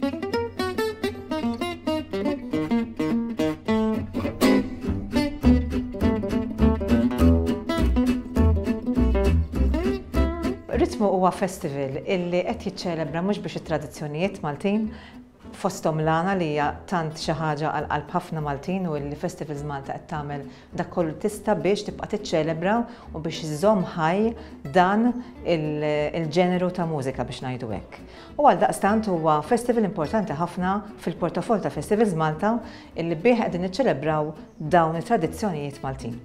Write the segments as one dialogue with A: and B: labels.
A: Ritmu huwa festival illi qed jiċċelebra mhux biex it-tradizzjonijiet Maltin fosthom l-għana li hija tant xi ħaġa għal qalb ħafna Maltin u li Festivals Malta qed tagħmel Dak kollu tista' biex tibqa' tiċċelebra u biex iżżomm ħaj dan il-ġeneru ta' mużika biex ngħidu hekk. U għaldaqstant huwa festival importanti ħafna fil-portafoll ta' Festivals Malta illi bih qegħdin niċċelebraw dawn it-tradizzjonijiet Maltin.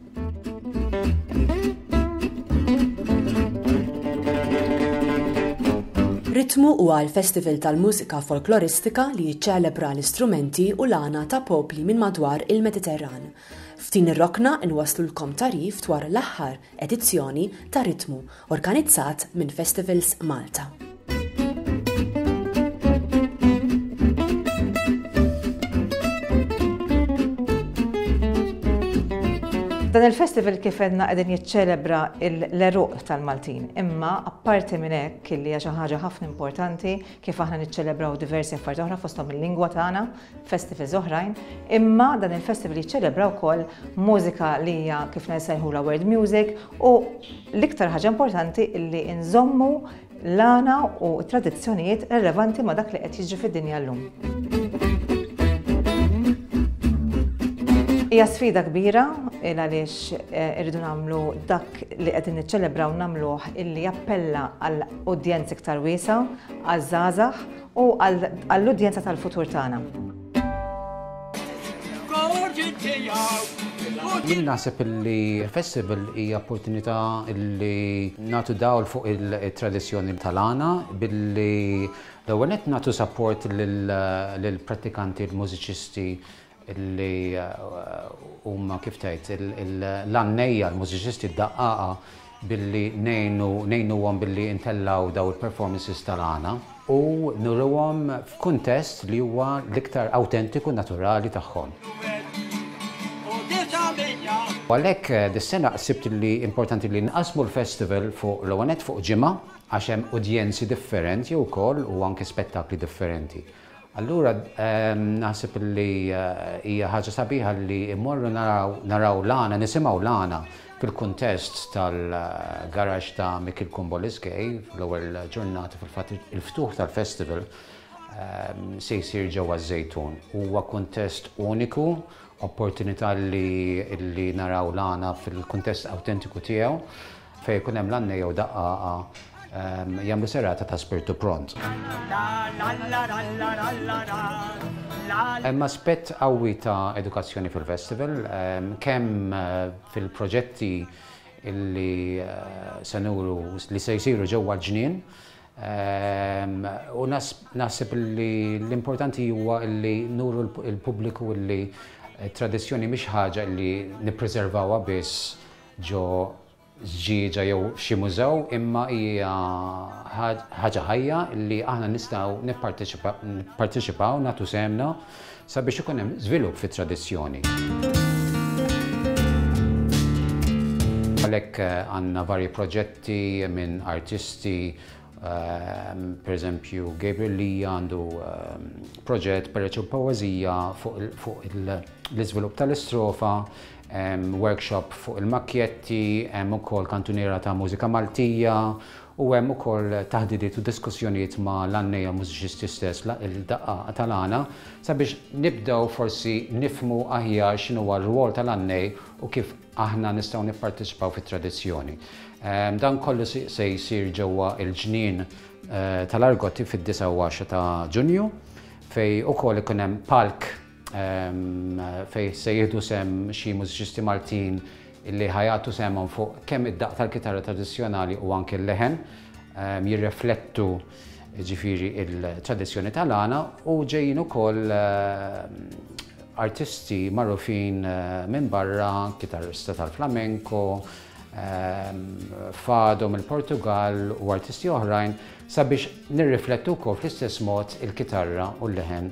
B: Ritmu huwa l-festival tal-mużika folkloristika li jiċċelebra l-istrumenti u l-għana ta' popli minn madwar il-Mediterran F'din ir-rokna nwasslulkom tagħrif dwar l-aħħar edizzjoni ta' Ritmu organizzat minn Festivals Malta.
A: Dan il-festival kif edna qegħdin jiċċelebra l-eruq tal-Maltin, imma apparti minn hekk li hija xi ħaġa ħafna importanti kif aħna niċċelebraw diversi affarijiet oħra fosthom il-lingwa tagħna, festivals oħrajn, imma dan il-festival jiċċelebra wkoll mużika li hija kif nsejħula world music u l-iktar ħaġa importanti li nżommu l-għana u tradizzjonijiet relevanti ma' dak li qed jiġri fid-dinja llum. Hija sfida kbira il għaliex eh, irridu nagħmlu dak li qegħdin niċċelebraw nagħmluh illi jappella għal udjenz iktar wiesa, għal żgħażagħ u għall-udjenza tal-futur tagħna.
C: Jien naħseb li festival hija opportunità li nagħtu dawl fuq il-tradizzjoni tal-għana billi l-ewwel qed nagħtu support lill-prattikanti, l-mużiċisti li huma kif tgħid l-għannejja, l-mużiċisti, d-daqqaqa billi ngħinu ngħinuhom billi intellgħu dawn il-performances tal-għana u nuriwhom f'kuntest li huwa l-iktar awtentiku naturali tagħhom. U għalhekk eh, dis-sena sibt li importanti li nqasmu l-festival fuq l-ewwel fuq ġimgħa għax hemm udjenzi differenti wkoll u anke spettakli differenti. Allura naħseb li hija ħaġa sabiħa li mmorru naraw naraw l-għana, nisimgħu l-għana fil-kuntest tal-garaxx ta' Mikiel Kumboliskej fl-ewwel ġurnata fil-fatt il-ftuħ tal-festival se jsir ġewwa ż-Żejtun. Huwa kuntest uniku, opportunità li naraw l-għana fil-kuntest awtentiku tiegħu. Fejn ikun hemm lanne jew daqqaqa jagħmlu serata ta' spirtu pront. Hemm aspett qawwi ta' edukazzjoni fil-festival, kemm fil-proġetti li se nuru li se jsiru ġewwa l-ġnien, u naħseb li l-importanti huwa li nuru lill-pubbliku li t-tradizzjoni mhix ħaġa li nippriservawha biss ġo żġieġa jew f'xi mużew imma hija ħaġa ħajja li aħna nistgħu nipparteċipaw nagħtu sehemna sabiex ikun hemm żvilupp fit-tradizzjoni. Għalhekk eh, għandna varji proġetti minn artisti ehm, per eżempju Gabriel Lee għandu ehm, proġett per eċu poezija fuq l-iżvilupp tal-istrofa Hemm workshop fuq il-makkjetti, hemm ukoll kantuniera ta' mużika Maltija u hemm ukoll taħdidiet u diskussjonijiet ma' l-għannejja u mużiċisti stess il-daqqa tal-għana sabiex nibdew forsi nifhmu aħjar x'inhuwa r-rwol tal-għannej u kif aħna nistgħu nipparteċipaw fit-tradizzjoni. Dan kollu se jsir ġewwa l-ġnien tal-Argotti fid-9 u 10 ta' Ġunju fejn ukoll ikun hemm palk fejn se jieħdu sehem xi mużiċisti Maltin li ħajatu sehemhom fuq kemm id-daqq tal-kitarra tradizzjonali u anke l-leħen jirreflettu ġifiri il-tradizzjoni tal-għana u ġejjin ukoll artisti magħrufin minn barra, kitarrista tal-flamenko, fado mill-Portugal u artisti oħrajn sabiex nirriflettu wkoll fl-istess mod il-kitarra u l-leħen